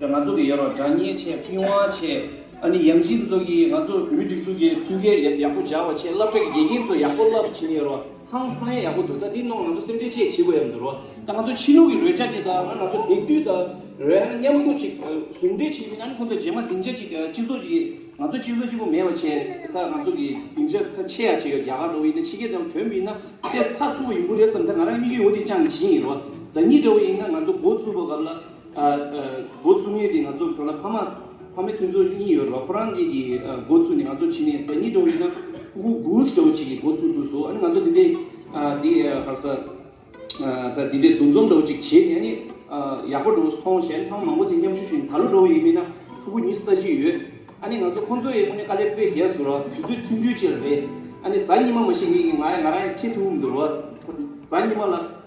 ང་ཚོ་གི་ཡོད་རོགས་དྲ་བརྙན་ཆེད་སྤུས་དབང་ཆེད་ཨ་ནི་ཡང་སྲིད་ཚོ་གིས་ང་ཚོ་མི་སྒྲིག་འཛུགས་ཀྱི་མཐུན་རྐྱེན་ཡག་པོ་སྦྱར་བ་ཆེད་བསླབ་གྲྭ་གི་དགེ་རྒན་ཚོ་ཡག་པོ་བསླབ་བྱེད་ཀྱི་ཡོད་རོགས་ཧང་སངས་ཡག་པོ་འདུག་ད་འདི་གནང་ང་ཚོ་སེམས་ཁྲལ་ཆེད་བྱེད་དགོས་ཡག་འདུག་རོགས་ད་ང་ཚོ་ཕྱི་ལུགས་ཀྱི་རོལ་ཆ་གྱི་དང་ང་ཚོ་དེང་དུས་ད་རོལ་ན་མཉམ་འདུག་ཅིག་ཟུང་འབྲེལ་བྱེད་མིན་ཨ་ནི་ཁོང་ཚོ་རྗེས་མ་སྡིངས་ཆ་གཅིག་སྤྱི་ཚོགས་གཅིག་ང་ཚོ་སྤྱི་ཚོགས་གཅིག་པོ་མེད་པ་ཆེད་ད་ང་ཚོ་གི་སྡིངས་ཆ་ཁ་ཆེ་ཡག་ཆེ་ཡོད་རྒྱ་གར་ལོག་ཡིན་ན་ཕྱི་རྒྱལ་དང་དོན་མི་ན་ཤེས་ཚགས་ཚུགས་པ་ཡིན་པོ་རེད་བསམ་ད་ང་རང་གཉིས་ཀྱི་འོ་དེ་ཅང་གི་བྱིན་ཡིན་རོགས་ད་གཉིས་འདྲ་བོ་ཡིན་ན་ང་ཚོ་འགོ་བཙུགས་པ་སྐབས་ལ། འགོ་བཙུགས་ངེས་ཏེ་ང་ཚོ་གང་ལྟར་ཕ་མ་ཕ་མའི་མཐུན་ཚོགས་གཉིས་ཡོད་རེད་བ་ཁོ་རང་གིས་ཀྱིས་འགོ་བཙུགས་ནས་ང་ཚོ་ཕྱི་ནས་བདག་ཉིད་འདྲ་བོ་ཡིན་ན་ཁུ་ཁུ་གུགས་འདྲ་བོ་ཅིག་གིས་འགོ་བཙུགས་འདུག་བཟོ་ཨ་ནི་ང་ཚོ་འདི་འདྲའི་འདི་ཧར་ས་ད་འདི་འདྲའི་འདུ་འཛོམས་འདྲ་བོ་ཅིག་བྱས་ནས་ཨ་ནི་ཡག་པོ་འདྲ་བོ་མཐོང་བྱས་ནས་ཕ་མ་མང་པོ་ཚེ་མཉམ་ཞུགས་ཞུས་ནས་ད་ལོ་འགྲོ་བ་ཡིན་མིན་ན་ཁུ་ཁུ་གཉིས་སུ་ལྟ་ཅི་ཡོད་ཨ་ནི་ང་ཚོ་ཁོང་ཚོ་ཡས་དངོས་གནས་དཀའ་ལས་སྤོས་རྒྱལ་བཟོ་རོགས་དུས་ཚོད་མཐུན་འགྱུར་བྱེད་རོགས་རེད་ཨ་ནི་གཟའ་ཉི་མ་མ་ཞིག་ངེས་ཀྱིས་ང་ང་རང་ཡང་ཁྲིད་ཐུབ་འུ་མི་འདུག་རོགས་གཟའ་ཉི་མ་ལ།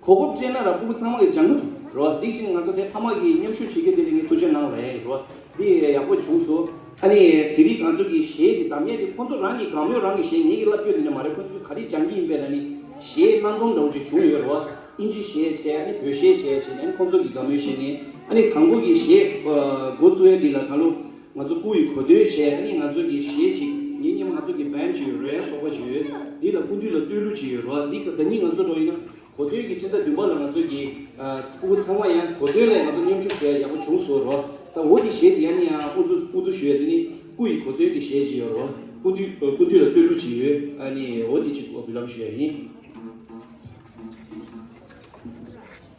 ཁོ་བོ་སྤྲེལ་ནག་ར་སྤུ་གུ་ཚང་མ་གི་ལྗང་གུ་དུ་རོ་ཨ་འདི་ཅིག་ང་ཚོ་དེ་ཕ་མ་གིས་མཉམ་ཞུགས་བྱེད་རྒྱུ་དེ་ལས་ངས་ཐུགས་ཆེ་གནང་བས་རེད་རོ་ཨ་འདི་ཡག་པོ་བྱུང་སོ། ཨ་ནི་དེ་རིགས་ང་ཚོ་གི་གཞས་འདི་བདམས་ཡས་དེ་ཁོ་ཚོ་རང་གི་དགའ་མོས་རང་གི་གཞས་ངས་ཀྱི་བསླབ་རྒྱུ་འདི་ནས་མ་རེད་ཁོ་ཚོ་གི་ག་རེ་སྦྱང་གི་ཡིན་པས་ན་ནི་གཞས་སྣ་འཛོམས་འདྲ་བོ་ཅིག་བྱུང་ཡོད་རོ་ཨ་ཨིན་ཇི་གཞས་བྱས་ཨ་ནི་བོད་གཞས་བྱས་བྱས་ནས་ཨ་ནི་ཁོ་ཚོ་གི་དགའ་མོས་གཞས་ངས་ཨ་ནི་དང་པོ་གི་གཞས་འགོ་བཙུགས་ཡས་འདི་ལ་ད་ལོ། ང་ཚོ་སྐུ་ཡི་གོ་དོན་བྱས་གཉིས་ང་ཚོ་གི་ཞེ་གཅིག་ཉིན་གཉིས་པ་ང་ཚོ་གི་བན་བྱེད་ཡོད་རོལ་དབྱངས་ཚོགས་པ་བྱེད་ཡོད་འདི་ལ་སྐུ་དུས་ལ་བསྟོད་གླུ་བྱེད་ཡོད་རོ་འདི་ད་གཉིས་ང་ཚོ་འགྲོ་ཡིན་ན་གོ་དོན་གྱི་ཕྱི་ཟླ་བདུན་པ་ལ་ང་ཚོ་གི་སྐུ་བུ་ཚང་མ་ཡང་གོ་དོན་ལས་ང་ཚོ་མཉམ་ཞུགས་བྱས་ཡག་པོ་བྱུང་སོ་རོ་ད་འོ་འདི་ཞེ་འདི་ཡང་ནི་ཡང་འུ་ཚོ་སྐུ་དུས་ཞུ་ཡ་འདི་ནི་སྐུ་ཡི་གོ་དོན་གྱི་ཞེ་གཅིག་ཡོད་རོ་སྐུ་དུས་སྐུ་དུས་ལ་བསྟོད་གླུ་བྱེད་ཡོད་ཨ་ནི་འོ་འདི་གཅིག་བུ་ལམ་ཞུ་ཡ་ཡིན།